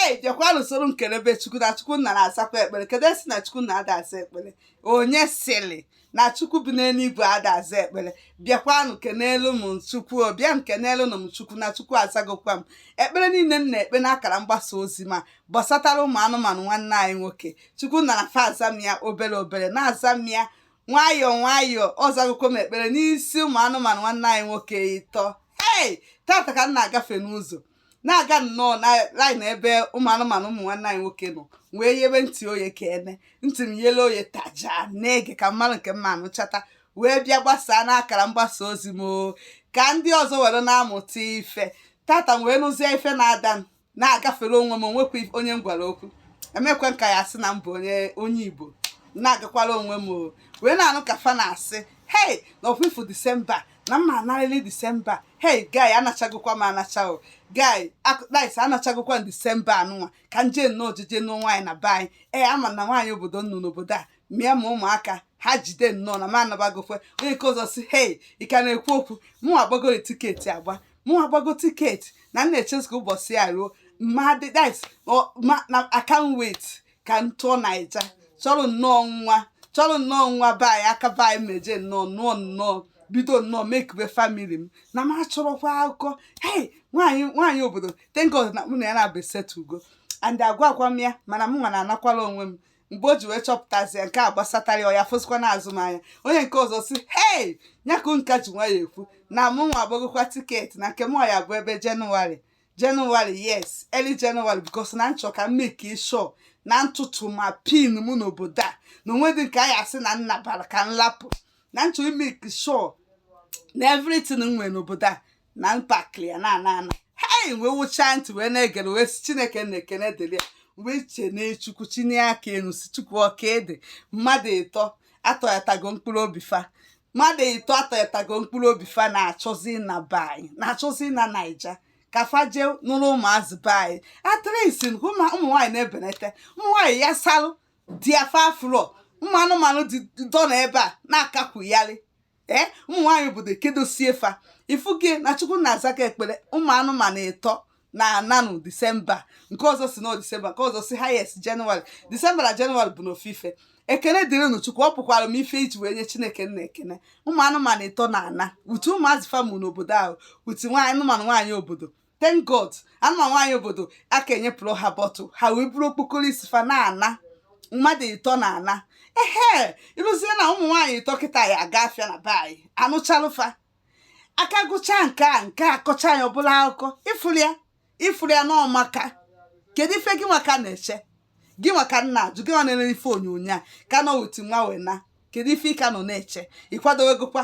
hei bịakwanụ soro m kelebe chukwu na chukwu nna na-azakwa ekpere kedu esi na chukwu nna ada aza ekpere onye sịrị na chukwu bi n'eluigwe ada aza ekpere bịakwanụ kenelu m chukwu bịanụ kenelu m chukwu na chukwu azagokwa m ekpere niile m na-ekpe n'akara mgbasa ozi m a gbasatara ụmụ anụmanụ nwanne anyị nwoke chukwu nna na-aza m ya obere obere na-aza m ya nwayọọ nwayọọ ọ zagokwa m ekpere n'isi ụmụ anụmanụ nwanne anyị nwoke ịtọ hei tata ka m na-agafe n'ụzọ na-aga nnọọ na laịn ebe ụmụ anụmanụ ụmụ nwanne anyị nwoke nọ wee yebe ntị oye ka ene ntị m yele oye taja na-ege ka m malụ nke m ma anụchata wee bịa gbasaa n'akara mgbasa ozi m oo. ka ndị ọzọ were na-amụta ife tata m wee nụzie ife na-ada m na-agafere onwe m onwekwa if- onye m gwara okwu emekwe m ka ya sị na m bụ onye onye igbo na-agakwara onwe m o wee na-anụ ka fa na-asị hei na ọfụfụ disemba na m na-anarịrị disemba hei guy anachagokwa m anacha o guy akụkpais anachagokwa m disemba anụnwa ka m je nnọọ jeje nụọ nwaanyị na be anyị ee ama na nwaanyị obodo m nụ n'obodo a mịa ma ụmụaka ha jide nnọọ na m anabagokwe onye nke ọzọ sị hei ị ka na-ekwu okwu mụ agbagoro tiketi agba mụ agbago tiketi na m na-echezi ka ụbọchị ya ruo ma dịdis ma na I can't wait ka m tụọ naija chọrọ nnọọ nwa chọrọ nnọọ nwa be anyị aka be anyị meje nnọọ nụọ nnọọ bido nnọọ mekube famili m na m achọrọkwa akụkọ hei nwaanyị nwaanyị obodo thank God na mụ na ya na-abụ esetugo and agwakwa m ya mana m nwa na-anakwala onwe m mgbe o ji wee chọpụtazie nke a gbasatara ya ọ ya fụsịkwa na azụmahịa onye nke ọzọ sị hei nyakụ ị ka ji nwayọọ ekwu na mụ nwa agbagokwa tiketi na nke m ọ ya-abụ ebe jenụwarị January yes early January because na m chọ ka m make sure na ntụtụ ma pin mụ n'obodo a na onwedị nke a ya-asị na nna bara ka m lapụ na m chọ ị make sure na everything m nwere n'obodo a na m pakịlị ya na-ana ana hei wee wụchaa ntị wee na-egere wee sị chineke nna ekene dịrị ya wee kenee chukwu chịnye aka enu sị chukwu ọka ede mmadụ ịtọ atọghatago mkpụrụ obi fa mmadụ ịtọ atọghatago mkpụrụ obi fa na-achọzi na be anyị na-achọzi na naija ka fa jee nụrụ ụmụazị be anyị at least nke ụmụ nwaanyị na-ebenete ụmụ nwaanyị ya-asalụ di ya fa abụrọ ụmụ anụmanụ dị dọ na ebe a na-akakwugharị ee ụmụ nwaanyị obodo kedosie fa ị fụgo na chukwu na-azaka ekpere ụmụ anụmanụ ịtọ na-ananụ disemba nke ọzọ sị na disemba nke ọzọ sị highest jenụwarị disemba na jenụwarị bụnụ ofu ife ekene dịrịnụ chukwu ọ pụkwara m ife iji wee nye chineke nna ekene ụmụ anụmanụ ịtọ na-ana utu ụmụazị fa mụ n'obodo ahụ utu nwaanyị anụmanụ nwaanyị obodo thank god anụmanụ nwaanyị obodo aka enyepụrụ ha bọtụ ha wee buru okpokoro isi fa na-ana mmadụ ịtọ na-ana ehe ị fụzie na ụmụ nwaanyị ịtọ kịta ya-aga afịa na be anyị anụchalụ fa aka gụchaa nke a nke a kọcha ya ọbụla akụkọ ị fụrụ ya ị fụrụ ya na ọ maka kedu ife gị nwa ka na-eche gị nwa ka m na-ajụ gị nwa na-ele ife onyonyo a ka nọ wit nwa wee na kedu ife ị ka nọ na-eche ị kwadowegokwa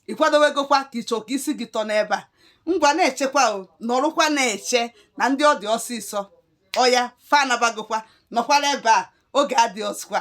ị kwadowegokwa ka ị chọ ka isi gị tọ n'ebe a ngwa na-echekwa o nọrụkwa na-eche na ndị ọ dị ọsịsọ ọya fa anabagokwa nọkwara ebe a oge adịrọzịkwa